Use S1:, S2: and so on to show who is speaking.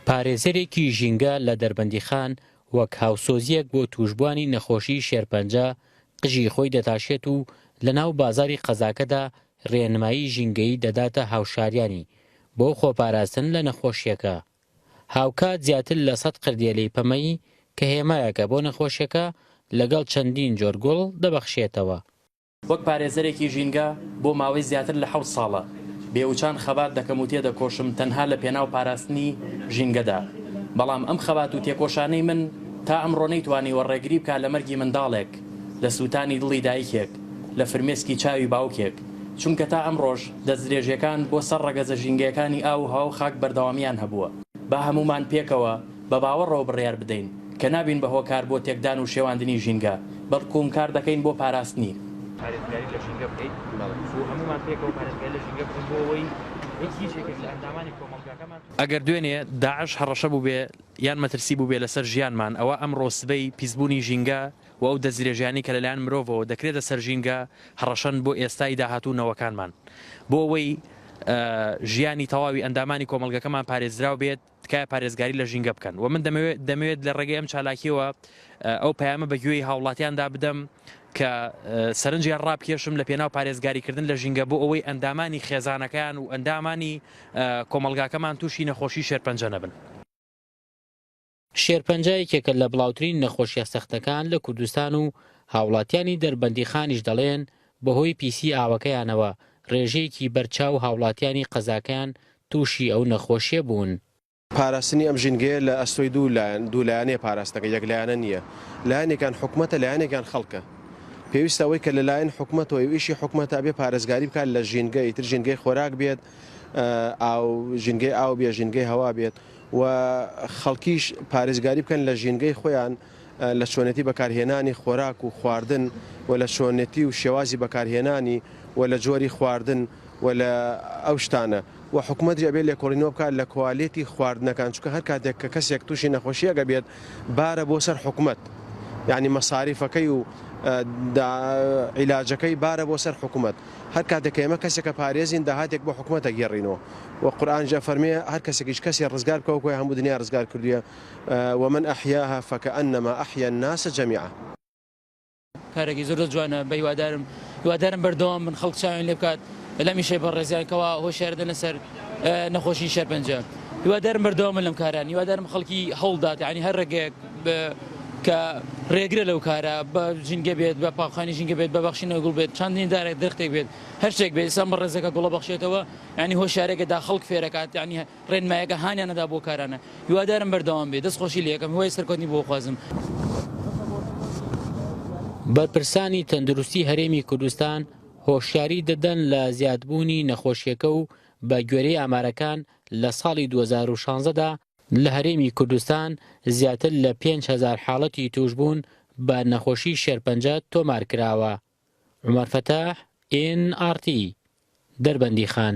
S1: پارێزەرێکی ژینگە لە دەربەندیخان وەک هاوسۆزییەک بۆ تووشبووانی نەخۆشیی شێرپەنجە قژی خۆی دەتاشێت و لەناو بازاڕی قەزاکەدا رێنمایی ژینگەیی دەداتە هاوشاریانی بۆ خۆپاراستن لە نەخۆشییەکە. هاوکات زیاتر لە سەد قردێلەی پەمەیی کە هێمایەکە بۆ نەخۆشیەکە لەگەڵ چەندین جۆر گوڵ دەبەخشێتەوە. وەک
S2: پارێزەرێکی ژینگە بۆ ماوەی زیاتر لە حەوت ساڵە بێوچان خەبات دەکەم و تێدەکۆشم تەنها لە پێناو پاراستنی ژینگەدا، بەڵام ئەم خەبات و تێکۆشانەی من تا ئەمڕۆ نەیتوانیوە ڕێگری بکا لە مەرگی منداڵێک، لە سوتانی دڵی دایکێک، لە فرمێسکی چاوی باوکێک، چونکە تا ئەمڕۆش دەستدرێژیەکان بۆ سەر ڕەگەزە ژینگەیەکانی ئاو و هەوا و خاک بەردەوامیان هەبووە. با هەموومان پێکەوە. بە باوەڕەوە بڕیار بدەین کە نابین بە هۆکار بۆ تێکدان و شێواندنی ژینگە، بەڵکوم کار دەکەین بۆ پاراستنی. پارێزگاری لە ژینگە بکەین و هەموومان پێکەوە پارێزگاری لە ژینگە بکەین بۆ ئەوەی هیچ هیچ یەکێک لە ئەندامانی کۆمەڵگاکەمان. ئەگەر دوێنێ داعش هەڕەشە بووبێ یان مەترسی بووبێ لەسەر ژیانمان، ئەوا ئەمڕۆ سبەی پیسبوونی ژینگە و ئەو دەستدرێژیانەی کە لەلایەن مرۆڤەوە دەکرێتە سەر ژینگە هەڕەشەن بۆ ئێستای داهاتوو نەوەکانمان. بۆ ئەوەی ژیانی تەواوی ئەندامانی کۆمەڵگەکەمان پارێزراو بێت، تکایە پارێزگاری لە ژینگە بکەن و من دەمەوێت لە ڕێگەی ئەم چالاکیەوە ئەو پەیامە بە گوێی هاوڵاتیاندا بدەم کە سەرنجیان ڕابکێشم لە پێناو پارێزگاریکردن لە ژینگە بۆ ئەوەی ئەندامانی خێزانەکان و ئەندامانی کۆمەلگاکەمان تووشی نەخۆشی شێرپەنجە نەبن. شێرپەنجە
S1: یەکێکە لە بڵاوترین نەخۆشیە سەختەکان لە کوردستان و هاوڵاتیانی دەربەندیخانیش دەڵێن بەهۆی پیسی ئاوەکەیانەوە رێژەیەکی بەرچاو هاوڵاتیانی قەزاکەیان تووشی ئەو نەخۆشیە بوون. پاراستنی ئەم
S3: ژینگەیە لە ئەستۆی دوو لایەن دوو لایەنەیە پاراستنەکە یەک لایەنە نییە لایەنێکیان حکومەتە لایەنێکیان خەڵکە پێویستە ئەوەی کە لەلایەن حکومەتەوەی و ئیشی حکومەتە ئەبێ پارێزگاری بکات لە ژینگە ئیتر ژینگەی خۆراک بێت ئاو ژینگەی ئاو بێ ژینگەی هەوا بێت و خەڵکیش پارێزگاری بکەن لە ژینگەی خۆیان لە چۆنێتی بەکارهێنانی خۆراک و خواردن و لە چۆنێتی و شێوازی بەکارهێنانی و لە جۆری خواردن و لە ئەو شتانە و حکومەتیش ئەبێت لێکۆڵینەوە بکات لە کوالێتی خواردنەکان چونکە هەر کاتێک کە کەسێک تووشی نەخۆشیەک ئەبێت بارە بۆ سەر حکومەت یعنی مەساریفەکەی و عیلاجەکەی بارە بۆ سەر حکومەت هەر کاتێک کە ئێمە کەسێکە پارێزین داهاتێک بۆ حکومەتە گێڕینەوە و قورآن جا فەرمێ هەر کەسێکیش کەسێ ڕزگار بکەوە کۆی هەموو دنیا ڕزگار کردووە ومن احیاها فکانما احیا الناس جمیعا.
S4: کارێکی زۆر زۆر جوانە بە هیوادارم هیوادارم بەردەوام بن خەڵک چاویان لێ بکات لەم ئیشەی بەڕێزیان کەوا هۆشیار دەنە سەر نەخۆشی شێرپەنجە هیوادارم بەردەوام بن لەم کاران هیوادارم خەڵکی هەوڵ دات یعنی هەر ڕێگەیەک کە ڕێگرە لەو کارە بە ژینگە بێت بە پاقخانی ژینگە بێت بە بەخشینەوە گوڵ بێت چاندنی دارێک درختێک بێت هەر شتێک بێت ئسان بە ڕێزەکە گوڵە بەخشێتەوە ینی هۆشارێکە دا خەڵک فێرەکات ینی ڕێنمایەکە هانیان نەدا بۆ کارانە. هیوادارم بەردەوام بێت. دەست خۆشی لێ ئەکەم. هیوای سەرکەوتنی بۆ ئەخوازم.
S1: بەرپرسانی تەندروستی هەرێمی کوردستان هۆشیاری دەدەن لە زیادبوونی نەخۆشیەکە و بە گوێرەی ئامارەکان لە ساڵی دوو هەزار و شازدە دا لە هەرێمی کوردستان زیاتر لە پێنج هەزار حاڵەتی تووشبوون بە نەخۆشی شێرپەنجە تۆمار کراوە. عومەر فەتاح، ئێن ئاڕ تی، دەربەندیخان.